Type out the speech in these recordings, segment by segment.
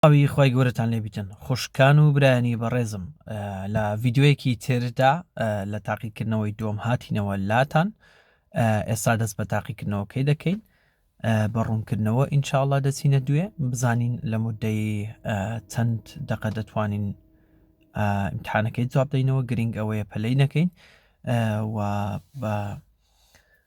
ئەوی خی گەورەتان لێبیتن خوشکان و برایانی بەڕێزم لە ڤیددیوەیەکی تردا لە تاقیکردنەوەی دۆم هاتینەوە لاتان ئێستا دەست بە تاقیکردنەوەکەی دەکەین بە ڕوونکردنەوە ئینشاءله دەچینە دوێ بزانین لە مدەی چەند دەقە دەتوانین امتحانەکەی جواب دەینەوە گرنگ ئەوەیە پەلەی نەکەین و بە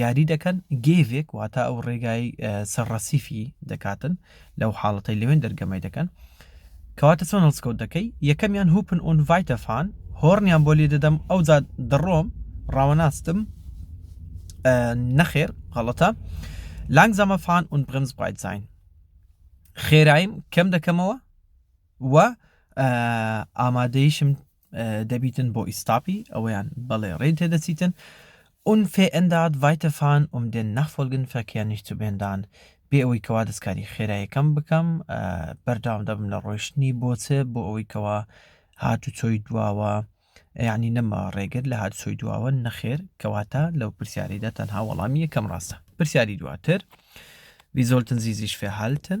یاری دەکەن گێڤێک واتا ئەو ڕێگای سەر ڕەسیفی دەکاتن لەو حاڵەتەی لەوێن دەرگەمەی دەکەن کەواتە چۆن هەڵسکەوت دەکەی یەکەمیان هوپن ئۆن ڤایتەفان هۆڕنیان بۆ لێ دەدەم ئەو جا دەڕۆم ڕاوەناستم نەخێر غەڵەتە لانگ زەمە فان ئون برمز بایت زین خێرایم کەم دەکەمەوە و ئامادەیشم دەبیتن بۆ ئیستاپی ئەوەیان بەڵێ ڕێن تێدەچیتن اون فێئنداد ڤایتەفان ئوم دێن نەخفۆلگن فەکیان نیشتوبێندان بێ ئەوەی کەوا دەستکاری خێرایەکەم بکەم بەرداوام دەبم لە ڕۆشتنی بۆچێ بۆ ئەوەی کەوا هات و چۆی دواوە یعنی نەما ڕێگر لە هات سۆی دواوە نەخێر کەواتە لەو پرسیاریدا تەنها وەڵامی یەکەم ڕاستە پرسیاری دواتر ویزۆلتن زیزیش فێهالتن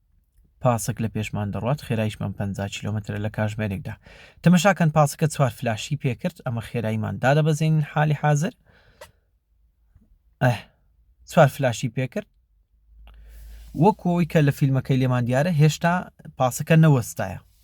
پاسک لە پێشمان دەڕوات خێرایشمان پەنجا کیلۆمەترە لە کاژمێرێکدا تەمەشا کەن پاسکە چوار فلاشی پێکرد ئەمە خێرایمان دادەبەزێنین حالی حازر ئەه چوار فلاشی پێکرد وەکۆی کە لە فیلمەکەی لێمان دیارە هێشتا پاسەکە نەوەستایە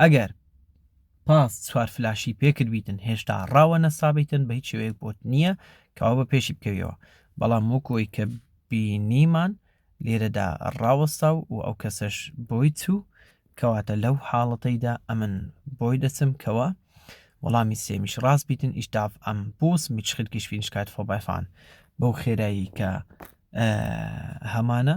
ئەگەر پاس چوار فلاشی پێکردبیتن هێشتا ڕاوە نەسابیتن بە هیچ شێوەیەک بۆت نییە کەوا بە پێشی بکەویەوە بەڵام وەکۆی کە بینیمان لێرەدا ڕاوەستا و و ئەو کەسەش بۆی چوو کەواتە لەو حاڵەتەیدا ئەمن بۆی دەچم کەوە وەڵامی سێمیش ڕاست بیتن ئیشتاف ئەم بۆس میچخل کشفینشکات فۆبایفان بەو خێرایی کە هەمانە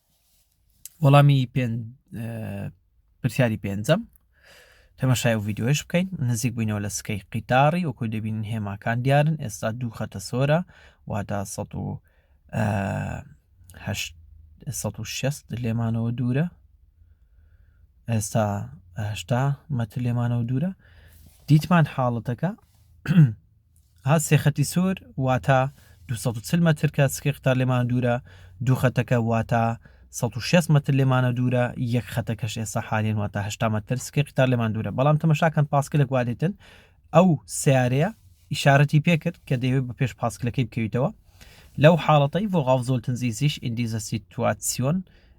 وەڵامی پرسیاری پێنجەم تەمەشای و ڤیددیوش بکەین نزیک بووینەوە لە سکەی قیتاری وەکو دەبین هێماکان دیارن ئێستا دوو خەتە سۆرە واتا 16 لێمانەوە دوورە ئێستاهشتا مەتر لێمانەوە دوورە دیتمان حاڵەتەکە ها سێ خەتی سور واتا دوو سەد و چل مەتر کە سکەی قتار لێمانە دوورە دوو خەتەکە واتا سەد و شێست مەتر لێمانە دوورە یەک خەتەکەش ئێستا حالیەن واتا هەشتا مەتر سکەی قتار لێمان دوورە بەڵام تەمەشاکەن پاسکلێک وا دێتن ئەو سیارەیە ئیشارەتی پێکرد کە دەیەوێت بە پێش پاسکلەکەی بکەویتەوە لەو حاڵەتەی ڤۆغااف زۆلتنزیزیش ئیندیزەسی تواتسیۆن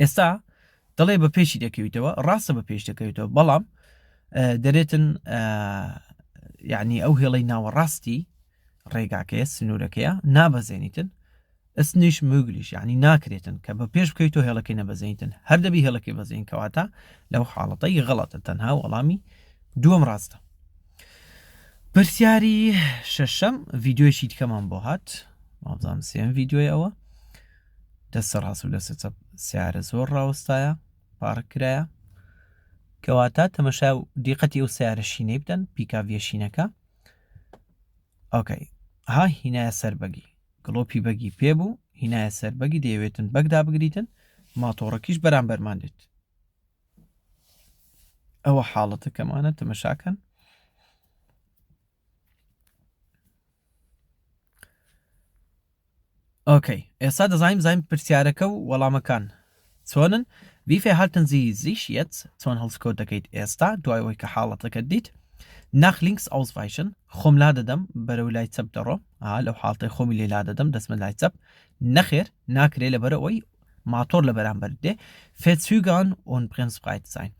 ئێستا دەڵێ بە پێشی دەکەویتەوە ڕاستە بە پێش دەکەوێتەوە بەڵام دەرێتن یعنی ئەو هێڵی ناوەڕاستی ڕێگاکەیە سنوورەکەیە نابەزێنیتن ئەسنیش مگلیش یعنی ناکرێتن کە بە پێش بکەیت تۆ هێڵەکەی نەبەزێنیتن هەر دەبی هێڵەکەی بەزین کەواتە لەو حاڵەتەی غڵەتە تەنها وەڵامی دووەم ڕاستە پرسیاری شەشەم ڤیددیوشی دیکەمان بۆ هات مابزانام سێم ڤیددیوی ئەوە دەستە ڕاست و دەستە چەپ سیارە زۆر ڕاوەستایە پارک کرایە کەواتە تەمەشا و دیقەتی ئەو سیارە شینەی بدەن پیکاویە شینەکە ئۆکەی ها هینایە سەر بەگی گڵۆپی بەگی پێ بوو هینایە سەر بەگی دەیەوێتن بەگدا بگریتن ماتۆڕەکیش بەرامبەرمان دێت ئەوە حاڵەتەکەمانە تەمەشاکەن ئۆکەی ئێستا دەزانین زانین پرسیارەکە و وەڵامەکان چۆنن ویفێ هاتن زی زیش یەت چۆن هەڵسکۆت دەکەیت ئێستا دوای ئەوەی کە حاڵەتەکە دیت ناخ لینکس ئەوسڤایشن خۆم لا دەدەم بەرەو لای چەپ دەڕۆ لەو حاڵتەی خۆمی لێ لا دەدەم دەستمە لای چەپ نەخێر ناکرێ لە بەرەوەی ماتۆر لە بەرامبەر دێ فێچوگان ئۆن پرنس بقایت ساین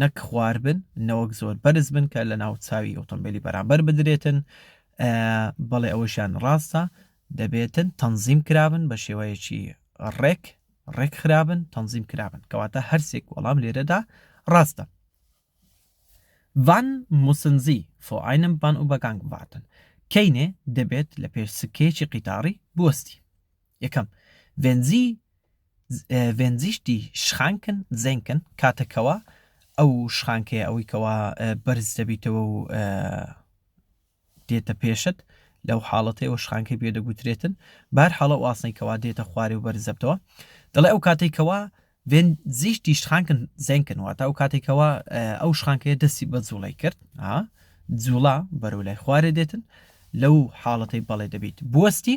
نەک خوار بن نەوەک زۆر بەرز بن کە لەناو چاوی ئۆتۆمبێلی بەرامبەر بدرێتن بەڵێ ئەوەشیان ڕاستە دەبێتن تەنزیم کرابن بە شێوەیەکی ڕێک ڕێک خرابن تەنزیم کرابن کەواتە هەرسێک وەڵام لێرەدا ڕاستە Wann müssen Sie vor einem Bahnübergang warten? کەینێ دەبێت لە پێش سکەیەکی قیتاڕی بوەستی یەکەم Wenn Sie ڤێنزیش دی شخانکن زێنکن کاتە کەوا ئەو شخانکەیە ئەوەی کەوا بەرز دەبیتەوە و دێتە پێشت لەو حاڵەتەی ئەو شخانکەی پێ دەگوترێتن بار حاڵە واسنەی کەوا دێتە خوارێ و بەرزەبتەوە دەڵێ ئەو کاتێک کەوا وێن زیش دیشخانکن زێنکن واتە ئەو کاتێکەوە ئەو شخانکەیە دەستی بە جوڵی کرد جوڵا بەرەو لای خوارێ دێتن لەو حاڵەتەی بەڵێ دەبیت بوەستی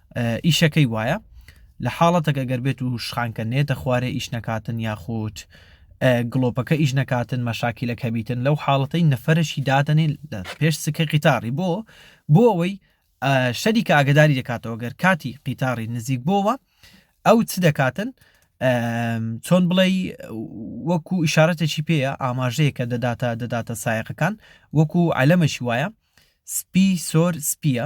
ئیشەکەی وایە لە حاڵەتەکە گەر بێت و شخانکە نێتە خوارێ ئیش نەکاتن یاخود گڵۆپەکە ئیش نەکاتن مەشاکی لە کەبیتن لەو حاڵەتەی نەفرەشی دادەنێ لە پێش سکە قیتاری بۆ بۆ ئەوەی شەری کە ئاگداری دەکاتەوە گەر کاتی قیتاری نزیک بۆوە ئەو چ دەکاتن چۆن بڵێ وەکو ئشارەتێکی پێەیە ئاماژەیە کە دەداتە دەداتە سایەقەکان وەکو ئەلەمەشی وایە سپی سۆر سپیە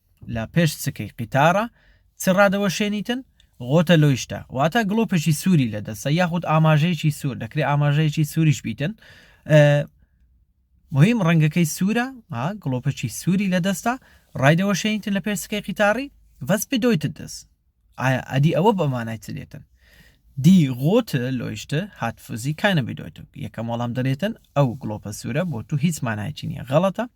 لە پێش سکەی قیتارە چ ڕادەوەشێنیتن؟ غۆتە لۆیشتە، واتە گڵۆپێکی سووری لە دەستە یاخود ئاماژەیەکی سوور، دەکرێ ئاماژەیەکی سووریش بیتن. مهم ڕەنگەکەی سوورە، گڵۆپێکی سووری لە دەستە، ڕایدەوەشێنیتن لە پێش سکەی قیتاری، وەس بدۆیتت دەست. ئایا ئەدی ئەوە بەمانای چ دێتن؟ دی غۆت لۆیشت هات فوزی کاینە بدۆیتن. یەکەم وەڵام دەرێتن ئەو گڵۆپە سوورە بۆ تو هیچ مانایەکی نییە، غەڵەتە.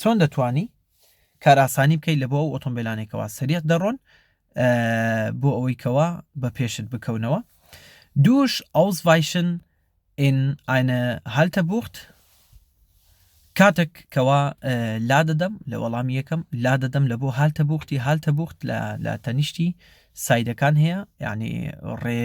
چۆن دەتوانی کارئاسانی بکەیت لەبۆ ئەو ئۆتۆمبیلانەی کەوا سەریع دەڕۆن بۆ ئەوەی کەوا بە پێشت بکەونەوە دوش ئەوزڤایشن in eine Haltebucht کاتێک کەوا لا دەدەم لە وەڵامی یەکەم لا دەدەم لە بۆ هالتە بوختی هالتە بوخت لە تەنیشتی سایدەکان هەیە یعنی ڕێ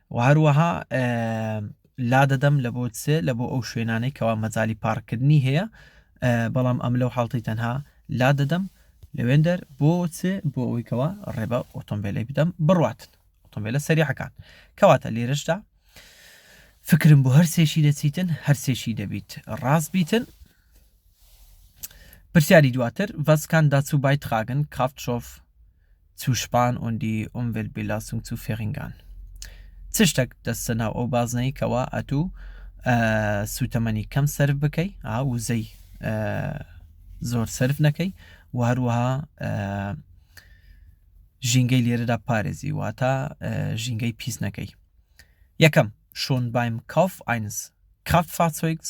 وە هەروەها لادەدەم لە بۆ سێ لە بۆ ئەو شوێنانەی کەوا مەجای پارکردنی هەیە بەڵام ئەم لەو حڵتی تەنها لا دەدەم لەوێندەر بۆ چێ بۆ ئەوەی کەوا ڕێبە ئۆتۆمبیلی بدەم بڕاتن ئۆتۆمبیلە سەریحەکان کەواتە لێرشدا فکرم بۆ هەرسێکی دەچیتن هەرسێکی دەبیت ڕاست بیتن پرسیاری دواتر ڤەسکان داچوو بای تخاگن کافتشۆف zu Span und die Umweltbelastung zu verringern چ شتەک دەستە ناو ئەو بازنەی کەوا ئەتوو سوتەمەنی کەم سرف بکەی وزەی زۆر سرف نەکەی و هەروەها ژینگەی لێرەدا پارێزی واتە ژینگەی پیس نەکەی یەکەم شۆن بایم کاف ئاینس کاف فاچۆیکس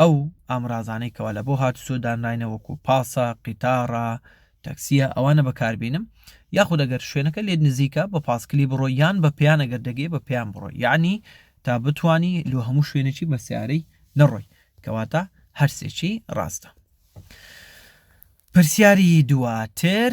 ئەو ئامرازانەی کەوا لە بۆ هاتوچۆ دانراینە وەکو پاسە، قیتاڕە، تەکسیە ئەوانە بەکاربینم یاخود ئەگەر شوێنەکە لێت نزیکە بە پاسکلی بڕۆ یان بە پێیان ئەگەر دەگەی بە پێیان بڕۆ یعنی تا بتانی لۆ هەموو شوێنێکی بە سیارەی نەڕۆی کەواتە هەرسێکی ڕاستە پرسیاری دواتر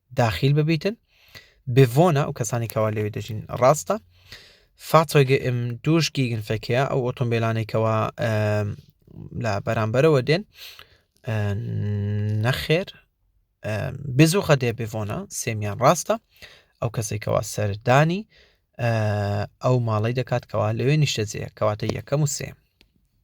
داخیل ببیتن بڤۆنە و کەسانی کەوا لەوێ دەژین ڕاستە فاتۆگە ئم دوش گیگن فەکەیە ئەو ئۆتۆمبیلانەی کەوا لە بەرامبەرەوە دێن نەخێر بزوخە دێ بڤۆنە سێمیان ڕاستە ئەو کەسێکەوە سەردانی ئەو ماڵی دەکات کەوا لەوێ نیشتەجێ کەواتە یەکەم و سێ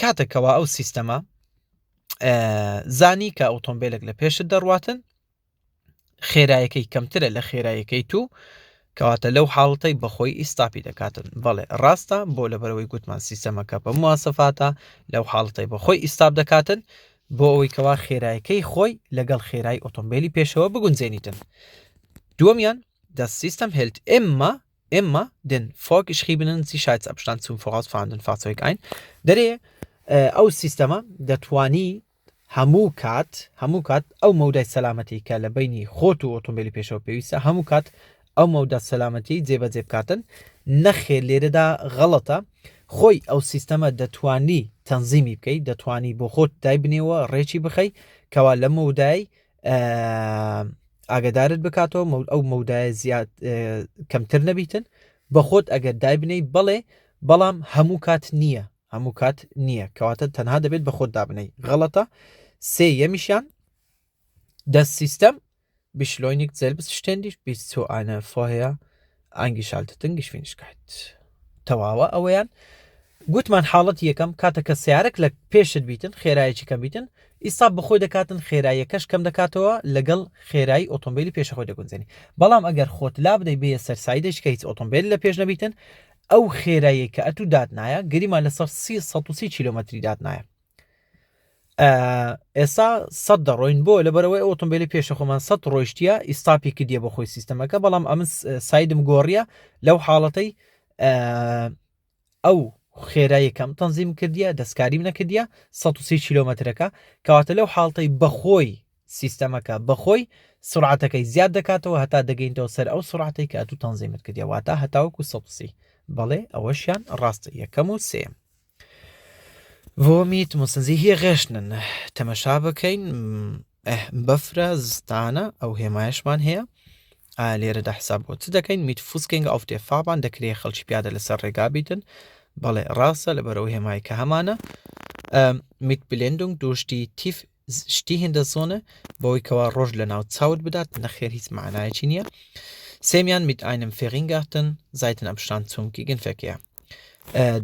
کاتێک کەوا ئەو سیستەمە زانی کە ئۆتۆمبیلێک لە پێشت دەڕواتن خێرایەکەی کەمترە لە خێرایەکەی تو کەواتە لەو حاڵەتەی بەخۆی ئیستاپی دەکاتن بەڵێ ڕاستە بۆ لەبەرەوەی گوتمان سیستەمەکە بە موواسەفاتە لەو حاڵەتەی بەخۆی ئیستاب دەکاتن بۆ ئەوەی کەوا خێرایەکەی خۆی لەگەڵ خێرای ئۆتۆمبیلی پێشەوە بگونجێنیتن دووەمیان دە سیستەم هێلت ئێمە Emma, den vorgeschriebenen Sicherheitsabstand zum voraus fahrenden Fahrzeug ein. دەرێ ئەو سیستەمە دەتوانی هەموو کات هەموو کات ئەو مەودای سەلامەتی کە لە بینی خۆت و ئۆتۆمبیلی پێشەوە پێویستە هەموو کات ئەو مەودا سەلامەتی جێبەجێ بکاتن نەخێ لێرەدا غەڵەتە خۆی ئەو سیستەمە دەتوانی تەنزیمی بکەیت دەتوانی بۆ خۆت دایبنێەوە ڕێکی بخەی کەوا لە مەودای ئاگدارت بکاتەوە مەود ئەو مەودایە زیاد کەمتر نەبیتن بە خۆت ئەگەر دایبنەی بەڵێ بەڵام هەموو کات نییە هەموو کات نییە کەواتە تەنها دەبێت بە خۆت دابنەی غەڵەتە سێ یەمیشیان دەست سیستەم بیشلۆینیک زەلبست شتێندیش بیست سو ئاە فۆهەیە ئانگیشالتتنگشفینشکایت تەواوە ئەوەیان گوتمان حاڵەت یەکەم کاتە کە سیارک لە پێشت بیتن خێرایەکی کەم بیتن ئیستا بەخۆی دەکاتن خێراییەکەش کەم دەکاتەوە لەگەڵ خێرایی ئۆتۆمبیلی پێشەخۆی دەگونجێنی بەڵام ئەگەر خۆت لا بدەی بێ سەرسایدێک کە هیچ ئۆتۆمبیل لە پێش نەبیتن ئەو خێرایی کە ئەتوو دادنایە گەریمان لەسەر سی سەسی کیلومتری دادنایە ئێستا سە دەڕۆین بۆ لەبەرەوەی ئۆتۆمبیلی پێشە خۆمان سە ڕۆیشتە ئیستاپی کردە بە خۆی سیستەمەکە بەڵام ئەم سایدم گۆڕیە لەو حاڵەتەی ئەو خێرایەکەم تەنزیم کردە دەستکاریم نەکردە 130 کیلومترەکە کەواتە لەو حاڵتەی بەخۆی سیستەمەکە بەخۆی سرعاتەکەی زیاد دەکاتەوە هەتا دەگەینەوە سەر ئەو سرعاتی کە ئەتو تەنزیمت کردیاواتە هەتاوەکو سەسی بەڵێ ئەوەشیان ڕاستە یەکەم و سێم ڤۆمیت مسنزی هی غێشتنن تەمەشا بکەین بەفرە زستانە ئەو هێمایشمان هەیە لێرەدا حساب بۆ چ دەکەین میت فوسکەنگ ئەو تێفاابان دەکرێت خەڵکی پیادە لەسەر ڕێگا بیتن بەڵێ ڕاستە لەبەرەوە هێمای کە هەمانە میت بلێندنگ دوشتی تیف شتی هێندە زۆنە بەوەی کەوا ڕۆژ لە ناو چاوت بدات نەخێر هیچ معنایەکی نییە سێمیان میت ئاینم فێغینگاتن زایتن ئەمشتان چونکی گن فێکەیە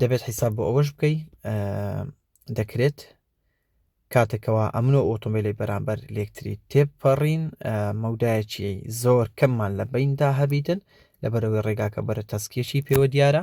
دەبێت حیساب بۆ ئەوەش بکەی دەکرێت کاتێکەوە ئەمن و ئۆتۆمبیلی بەرامبەر لەکتری تێپەڕین مەودایەکی زۆر کەممان لە بیندا هەبیتن لەبەرەوەی ڕێگاکە بەرە تەسکیەکی پێوە دیارە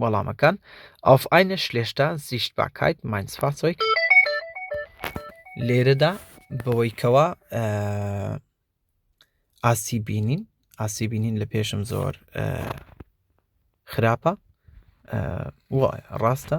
وەڵامەکان، Auf eine schlechte Sichtbarkeit meines Fahrzeugs لێرەدا بەوەی کەوا ئاسی بینین ئاسی بینین لە پێشم زۆر خراپە وایە ڕاستە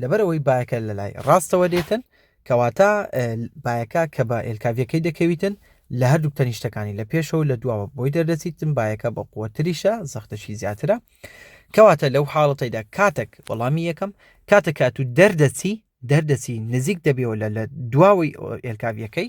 لەبەرئەوەی بایەکە لەلای ڕاستەوە دێتن، کەواتە بایەکە کە بە ئێلکاڤیەکەی دەکەویتن لە هەردووک تەنیشتەکانی لە پێشەوە لە دواوە بۆی دەردەچیتن بایەکە بە قووەتریشە زەختەشی زیاترە کەواتە لەو حاڵەتەیدا کاتێک وەڵامی یەکەم کاتە کات و دەردەچی دەردەچی نزیک دەبیەوە لە لە دواوەی ئێلکاڤیەکەی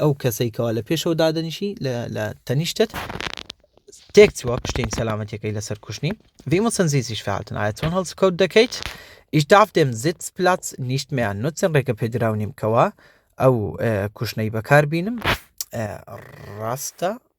ئەو کەسەی کەوا لە پێشەوە دادەنیشی لە تەنیشتت تێک چوە پشتین سەلامەتەکەی لەسەر کوشتنی وی مە سنزیزیش فعلتن ئایا چۆن هەڵسکەوت دەکەیت ئیش داف دێم زیت پلات نیشتمیان نوچن ڕێکە پێدراونیم کەوا ئەو کوشتنەی بەکار بینم ڕاستە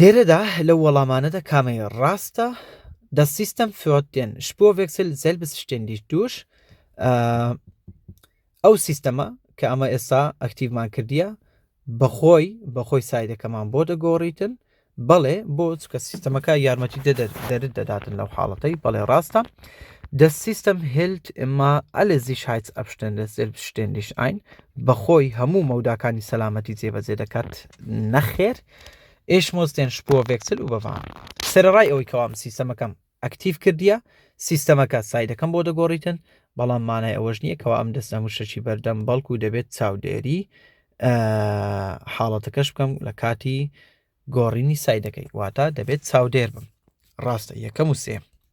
لێرەدا لەو وەڵامانەدا کامەی ڕاستە؟ Das System führt den Spurwechsel selbstständig durch ئەو سیستەمە کە ئەمە ئێستا ئەکتیڤمان کردیە بەخۆی بەخۆی سایدەکەمان بۆ دەگۆڕیتن بەڵێ بۆ چکە سیستەمەکە یارمەتی دەرت دەداتن لەو حاڵەتەی بەڵێ ڕاستە Das System hält immer alle Sicherheitsabstände selbstständig ein بەخۆی هەموو مەوداکانی سەلامەتی جێبەجێ دەکات نەخێر Ich muss den Spurwechsel überwachen. سەرەڕای ئەوەی کەوام سیستەمەکەم ئەکتیڤ کردیە سیستەمەکە سایدەکەم بۆ دەگۆڕیتن بەڵام مانای ئەوەش نییە کەوا ئەم دەستە موشەچی بەردەم بەڵکو دەبێت چاودێری حاڵەتەکەش بکەم لە کاتی گۆڕینی سایدەکەی واتە دەبێت چاودێر بم ڕاستە یەکەم و سێ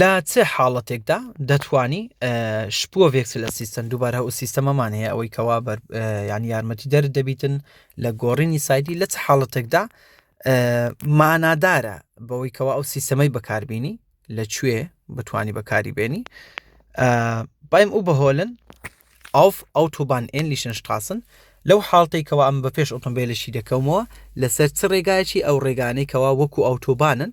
لە چ حاڵەتێکدا دەتوانی شپۆڤێک لە سیستەم دووبارە ئەو سیستەمەمان هەیە ئەوەی کەوا ینی یارمەتی دەر دەبیتن لە گۆڕینی سایدی لە چ حاڵەتێکدا مانادارە بەوەی کەوا ئەو سیستەمەی بەکاربیینی لە کوێ بتانی بەکاری بێنی بایم ئەو بەهۆلن ئاف ئەو تۆبان ئێن لیشن شتاسن لەو حاڵتەی کەوا ئەم بە پێش ئۆتۆمبیلشی دەکەمەوە لەسەر چ ڕێگایەکی ئەو ڕێگانەی کەوا وەکو ئەوتۆبانن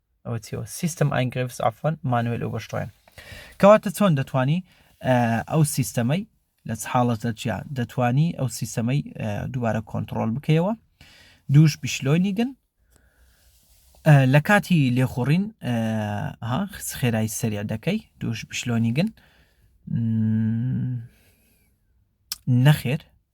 ئەوە چیەوە سیستم ئاینگرفس ئافۆن مانوێل و بەشڕێن کەواتە چۆن دەتوانی ئەو سیستەمەی لە حاڵەت لە چیا دەتوانی ئەو سیستەمەی دووبارە کۆنتترۆل بکەیەوە دووش بیشلۆینیگن لە کاتی لێخوڕین خێرای سەریا دەکەی دووش بشلۆنیگن نەخێر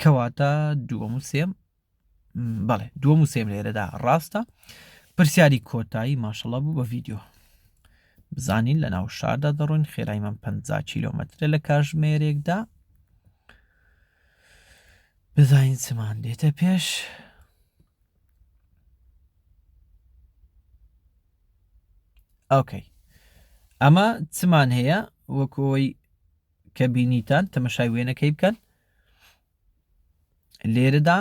کەواتە دووەم و سێم بەڵێ دووەم و سێم لێرەدا ڕاستە پرسیاری کۆتایی ماشەڵە بوو بە ڤیددیو بزانین لە ناو شاردا دەڕۆین خێرای من 50 کیلومترە لە کاژمێرێکدا بزانین چمان دێتە پێش ئۆکەی ئەمە چمان هەیە وەکەوەی کە بینیتان تەمەشای وێنەکەی بکەن لێرەدا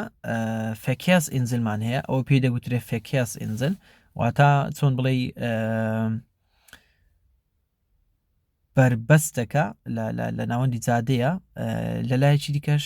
فەکیاس ئینزلمان هەیە ئەو پێی دەگوترێ فەکیاس ئینزل واتا چۆن بڵێ بەربەستەکە لە ناوەندی جادەیە لە لایەکی دیکەش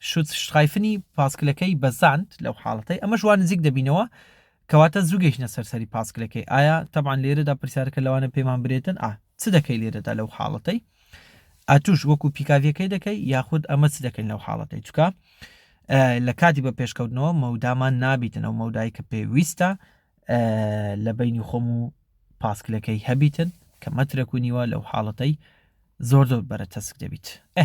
شوتشترایفنی پاسکلەکەی بەزاند لەو حاڵەتەی ئەمەش وا نزیک دەبینەوە کەواتە زوو گەیشتنە سەر سەری پاسکلەکەی ئایا تەبان لێرەدا پرسیارەکە لەوانە پێمان برێتن ئا چ دەکەی لێرەدا لەو حاڵەتەی ئەتوش وەکو پیکاڤەکەی دەکەی یاخود ئەمە چ دەکەین لەو حاڵەتەی چکە لە کاتی بە پێشکەوتنەوە مەودامان نابیتن ئەو مەودای کە پێویستە لە بینی خۆم و پاسکلەکەی هەبیتن کە مەترەک و نیوە لەو حاڵەتەی زۆر زۆر بەرە تەسک دەبیت ئە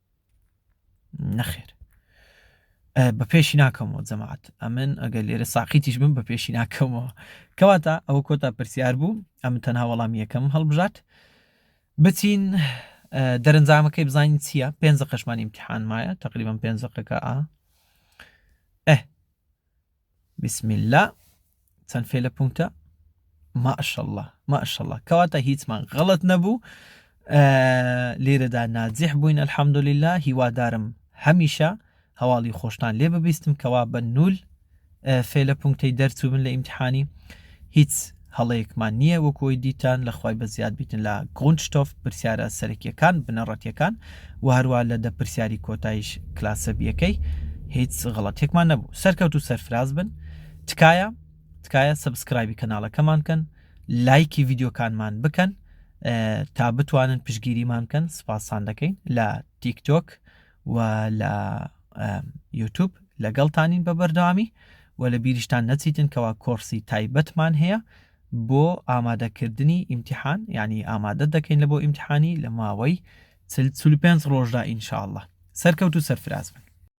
نەخێر بە پێشی ناکەمەوە جەماعات ئەمن ئەگەر لێرە ساقیتیش بم بە پێشی ناکەمەوە کەواتە ئەوە کۆتا پرسیار بوو ئەم تەنها وەڵام یەکەم هەڵبژات بچین دەرەنجامەکەی بزانین چییە پێنج قەشمان امتحان مایە تقریبا پێنج قەکە ئا بسم اللە چەند فێلە پونکتە ماشەڵا ماشەڵا کەواتە هیچمان غەڵت نەبوو لێرەدا ناجیح بووین الحەمدللا هیوادارم هەمیشە هەواڵی خۆشتان لێ ببیستم کەوا بە نول فێلە پونکتەی دەرچوو بن لە ئیمتحانی هیچ هەڵەیەکمان نیە وەک ئەوەی دیتان لە خوای بەزیاد بیتن لە Grundstoff پرسیارە سەرەکیەکان بنەڕەتیەکان وە هەروا لە دە پرسیاری کۆتایش کلاسە بیەکەی هیچ غەڵەتیەکمان نەبوو سەرکەوت و سەرفراز بن تکایە تکایە سەبسکرایبی کەناڵەکەمان کەن لایکی ڤیدیۆکانمان بکەن تا بتوانن پشگیریمان کەن سوپاستان دەکەین لە تیک تۆک و لە یوتوب لەگەڵتانین بە بەردەوامی و لە بیریشتان نەچیتن کەوا کۆرسی تایبەتمان هەیە بۆ ئامادەکردنی ئیمتحان یعنی ئامادە دەکەین لە بۆ ئیمتحانی لە ماوەی چل چل پێنج ڕۆژدا ئینشاءاللە سەرکەوت و سەرفراز بن